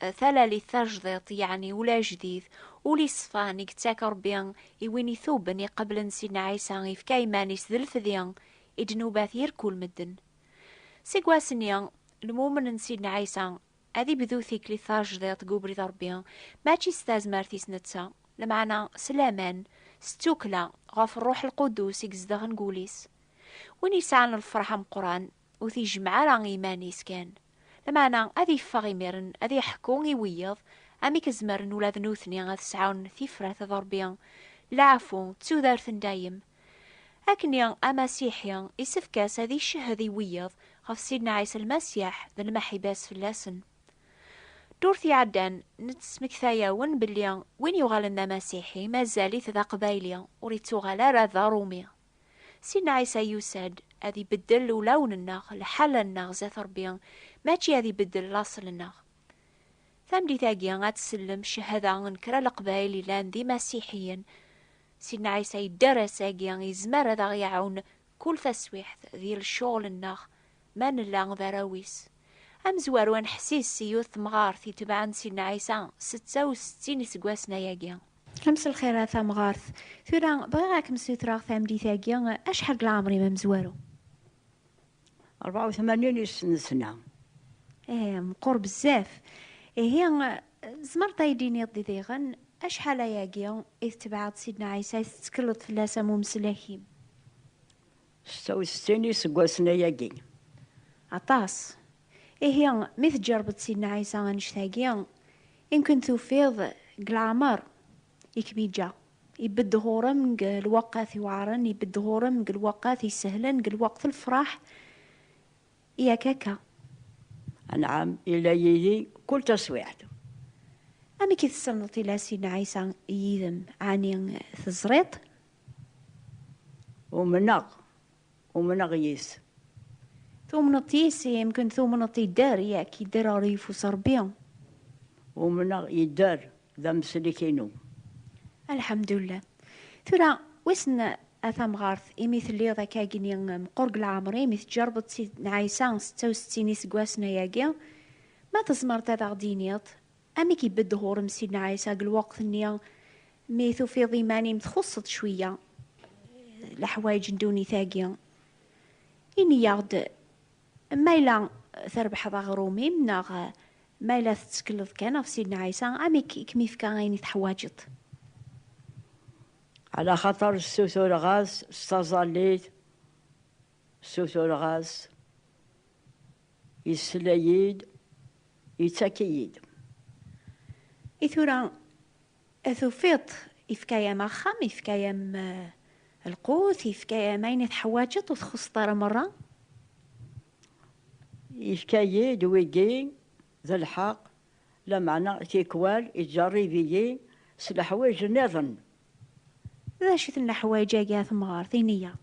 eh, talalit tajdiḍt yeɛni ul ajdid ul iṣfan i yettak rebbi i win ituben iqeblen sidna ɛisa ifka iman-is d lefdi i ddnubat yir kul medden seg wass-nni lmumen n sidna ɛisa ad ibdu tiklit tajdiḍt deg ubrid rebbi mačči s tazmert-is netta lmeɛna s laman s tukla ɣef ṛṛuḥ lqudus i izedɣen deg wul-is win yesɛan lferḥ ameqqran Ur t-yejmeɛ ara i yiman-is kan, lameɛna ad yeffeɣ imiren ad yeḥku i wiyaḍ amek zemren ula d nutni ad sɛun tifrat d Ṛebbi, lɛafu, d tudert n dayem. Akkenni, Amasiḥi isefk-as ad icehhed i wiyaḍ ɣef Sidna Ɛisa Lmasiḥ d lmeḥiba-s fell-asen. Ddurt iɛeddan, nettsmekta-awen belli win yuɣalen d Amasiḥi mazal-it d Aqbayli, ur ittuɣal ara d Aṛumi. Sidna Ɛisa yusa-d ad ibeddel ulawen-nneɣ, lḥal-nneɣ zdat Ṛebbi, mačči ad ibeddel laṣel-nneɣ. Tameddit-agi ad tsellem cchada n kra leqbayel yellan d imasiḥiyen. Sidna Ɛisa yedder ass-agi yezmer ad aɣ-iɛawen kul taswiḥt di lecɣel-nneɣ ma nella d arraw-is. Amezwaru aneḥsis i yiwet temɣart itebɛen Sidna Ɛisa setta u settin iseggasen ayagi. Ames lxir a tamɣart. Tura bɣiɣ ad kem-ssutreɣ tameddit-agi acḥal deg leɛmer-im amezwaru? 84 yesnesna. Eh, meqqur bezzaf. Ihi, tzemreḍ ad yi-d-tiniḍ di diɣen acḥal ayagi i tetbeɛeḍ Sidna Ɛisa, i tettekleḍ fell-as am umeslak-im? Setta u settin iseggasen ayagi. Aṭas. Ihi, mi tǧerbeḍ Sidna Ɛisa annect-agi, imken tufiḍ deg leɛmer i kem-iǧǧa. Ibedd ɣur-m deg lweqqat iweɛren, ibedd ɣur-m deg lweqqat isehlen, deg lweqt n lefraḥ, yak akka? Anɛam, ila yid-i kul taswiɛt. Amek i tessneḍ ila Sidna Ɛisa yid-m? Ɛni teẓriḍ-t? Umneɣ. Umneɣ yes. Tumneḍ yes, yemken tumneḍ yedder, yak, yedder ɣer yeffus Rebbi. Umneɣ yedder, d ameslik-inu. Alḥemdullah. Tura, wissen a tamɣart, imi telliḍ akka agni meqqur deg leɛmer, imi teǧǧerbeḍ Sidna Ɛisa setta u settin iseggasen ayagi, ma tzemreḍ ad aɣ-d-tiniḍ Amek ibedd ɣur-m Sidna Ɛisa deg lweqt-nni mi tufiḍ iman-im txuṣṣeḍ cwiyya leḥwayeǧ n ddunit-agi? Ini-aɣ-d ma yella trebḥeḍ aɣrum-im neɣ ma yella tettekleḍ kan ɣef Sidna Ɛisa, amek i kem-ifka ayen i teḥwaǧeḍ? Ɛla xaṭer ssutureɣ-as s taẓallit, ssutureɣ-as Yessla-yi-d, yettak-iyi-d. I tura tufiḍ-t, ifka-yam axxam, ifka-yam lqut, ifka-yam ayen i teḥwaǧeḍ, ur txuṣṣeḍ ara merra? Yefka-yi-d wigi d lḥeqq, lameɛna tikwal yettjeṛṛib-iyi s leḥwayeǧ nniḍen. D acu-ten leḥwayeǧ-agi a temɣart, ini-yaɣ-d?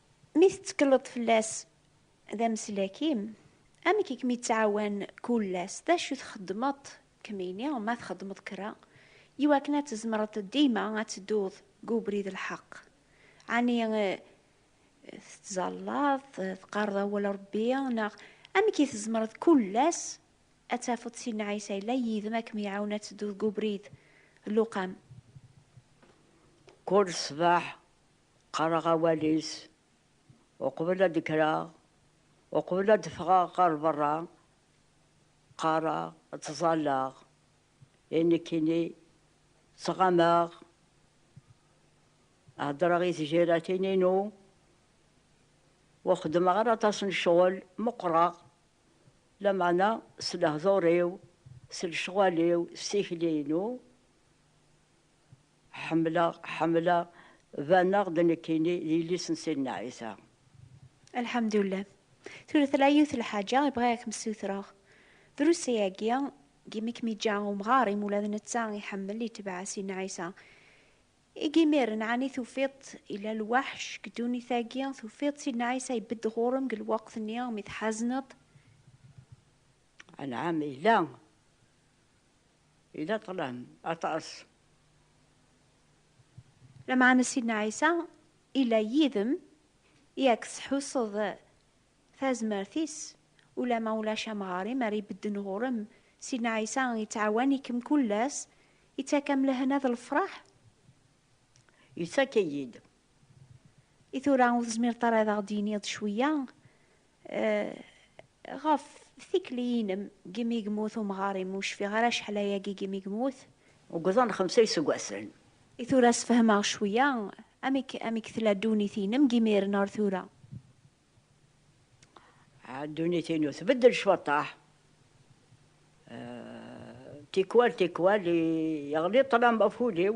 Mi tettekleḍ fell-as d ameslak-im, amek i kem-yettɛawan kul ass? D acu txeddmeḍ kemmini, ma txeddmeḍ kra, i wakken ad tzemreḍ dima ad tedduḍ deg ubrid n lḥeqq? Ɛni tettẓallaḍ, teqqareḍ awal Rebbi, neɣ amek i tzemreḍ kul ass ad tafeḍ Sidna Ɛisa yella yid-m ad kem-iɛawen ad tedduḍ deg ubrid n Luqam? Kul ṣṣbeḥ Qqareɣ awal-is uqbel ad d-kkreɣ, uqbel ad d-ffɣeɣ ɣer berra, qqareɣ, ttẓallaɣ, i nekkini ttɣamaɣ, heddreɣ i tjiratin-inu, ur xeddmeɣ ara aṭas n ccɣel, meqqreɣ, lameɛna s lehdur-iw, s lecɣal-iw, s tikli-inu. Ḥemmleɣ, ḥemmleɣ, baneɣ-d nekkini d yelli-s n Sidna Ɛisa. Lḥemdullah. Tura tella yiwet n lḥaǧa i bɣiɣ ad kem-ssutreɣ. Drus ayagi, deg yimi i kem-yeǧǧa umɣar, imi ula d netta iḥemmel, itebbeɛ Sidna Ɛisa. Eg imiren, ɛni tufiḍ-t yella lweḥc deg ddunit-agi? Tufiḍ-t Sidna Ɛisa ibedd ɣur-m deg lweqt-nni mi tḥazneḍ? Anɛam, yella. Yella ṭṭlam aṭas. Lameɛna Sidna Ɛisa illa yid-m i ak-tettḥusseḍ tazmert-is, ulamma ulac amɣar-im ara ibedden ɣur-m, Sidna Ɛisa ittɛawan-ikem kull ass, ittak-am lehna d lefraḥ. Ittak-iyi-d. I tura ur tezmireḍ ara ad aɣ-d-tiniḍ cwiya Ɣef tikli-inem, gimi i yemmut umɣar-im, ur cfiɣ ara acḥal ayagi gimi i yemmut. Ugḍan xemsa iseggasen. I tura sefhem-aɣ cwiya, amek amek tella ddunit-inem g imiren ar tura? Ah, ddunit-inu tbeddel cwaṭaḥ. Tikwal tikwal yeɣli ṭṭlam ɣef wul-iw.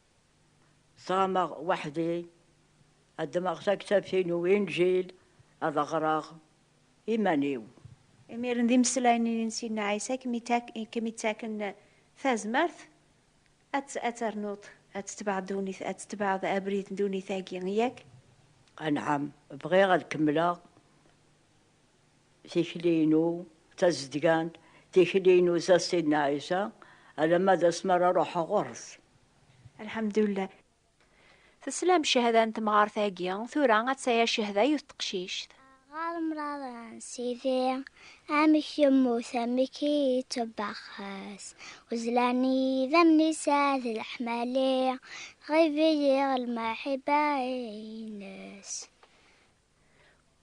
Ẓameɣ weḥd-i, ad ddmeɣ taktabt-inu Inǧil ad aɣreɣ iman-iw. Imiren d imeslayen-nni n Sidna Ɛisa i kem-ittaken tazmert ad ternuḍ ad tetbeɛeḍ ddunit, ad tetbeɛeḍ abrid n ddunit-agi, yak? Anɛam, bɣiɣ ad kemmleɣ. Tikli-inu d tazedgant, tikli-inu d ta Sidna Ɛisa, alamma d asmi ara ruḥeɣ ɣur-s. Alḥamdullah. Teslam cehda n temɣart-agi, tura ad taya cehda yiwet teqcict. Aɣar mraḍren Sidi, amek yemmut amek i yettebbaxes, uzlan i yidammen-is ad leḥmali, tɣib-iyi lmaḥiba-ines.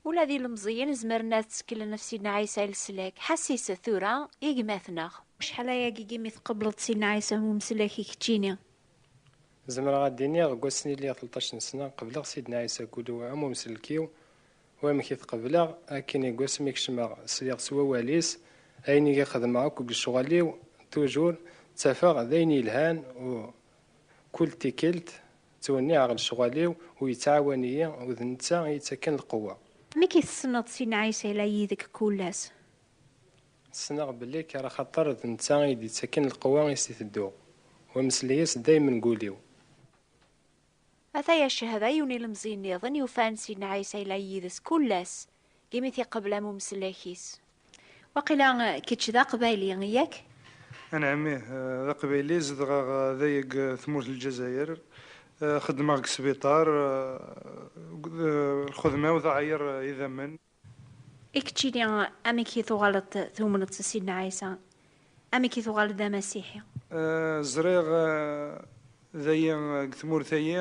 Ula d ilemẓiyen zemren ad tteklen ɣef Sidna Ɛisa i leslak. Ḥasset tura i gma-tneɣ. Acḥal aya deg yimi tqebleḍ Sidna Ɛisa i umeslak i keččini? Zemreɣ ad d-iniɣ deg wass mi lliɣ telṭac n sna, qebleɣ Sidna Ɛisa deg ul-iw am umsellek-iw. U amek i t-qebleɣ? Akken deg wass mi kecmeɣ, sliɣ s wawal-is, ayen i k-xedmeɣ akk deg lecɣal-iw, tujur ttafeɣ d ayen yelhan u kul tikkelt Ttwenniɛeɣ lecɣal-iw ur yettɛawan-iyi u d netta i yettakken lqewwa. Amek i tessneḍ si Nɛisa i la yid-k kull ass? Ssneɣ belli kker axaṭer d netta i yi-d-yettakken lqewwa i s-itedduɣ, u ameslay-is daymen deg wul-iw. Ataya ccehda yiwen ilemẓi nniḍen yufan si Nɛisa i la yid-s kull ass. Imi t-iqebl am umsellek-is. Waqila kečč d aqbayli, yak? Anɛam, ih, d aqbayli, zedɣeɣ da deg tmurt n Lezzayer, xeddmeɣ deg sbiṭar, lxedma-w teɛyiṛ idammen. I keččini, amek i tuɣaleḍ tumneḍ s Sidna Ɛisa? Amek i tuɣaleḍ d amasiḥi? Ẓriɣ dayi deg tmurt-ayi.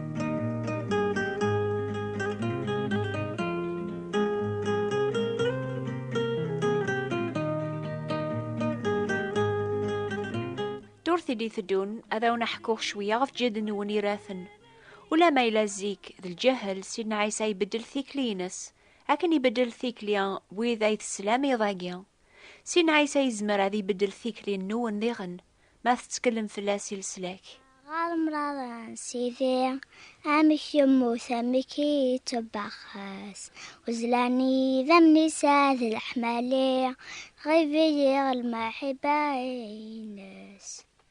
i teddun ad awen aḥkuɣ cwiya ɣef ǧid-nwen iraten. Ulama yella zik d lǧahel Sidna Ɛisa ibeddel tikli-ines akken ibeddel tikli wid ay teslam iḍ-agi. Sin Ɛisa yezmer ad ibeddel tikli-nwen diɣen ma tetteklem fell-as i leslak. Ɣer mraran Sidi, amek yemmut, amek i yettebbaxes, uzlan i yidammen-is ad leḥmali, tɣib-iyi lmaḥiba-ines.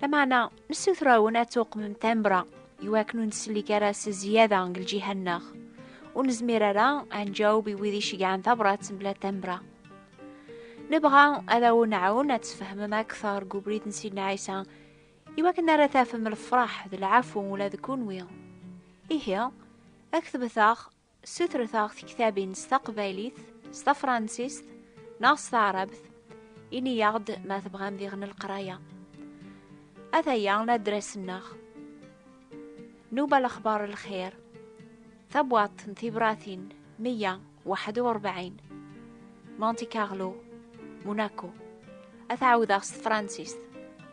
Lameɛna, nessuter-awen ad tuqmem tambra i wakken ur nsellek ara s zzyada deg lǧiha-nneɣ. Ur nezmir ara ad nǧaweb i wid iceggɛen tabrat mebla tambra. Nebɣa ad awen-nɛawen ad tfehmem akteṛ deg ubrid n Sidna Ɛisa i wakken ara tafem lefṛaḥ d lɛafu ula d kenwi. Ihi, ad ak-tebet-aɣ Ssutret-aɣ tektabin s taqbaylit, s tafransist neɣ s taɛrabt. Ini-aɣ-d ma tebɣam diɣen lqraya. Ataya ladras-nneɣ. Nuba lexbar lxir. Tabwaḍt n tibratin 141. Monte Carlo, Monaco. Ad t-ɛawdeɣ s tefransist.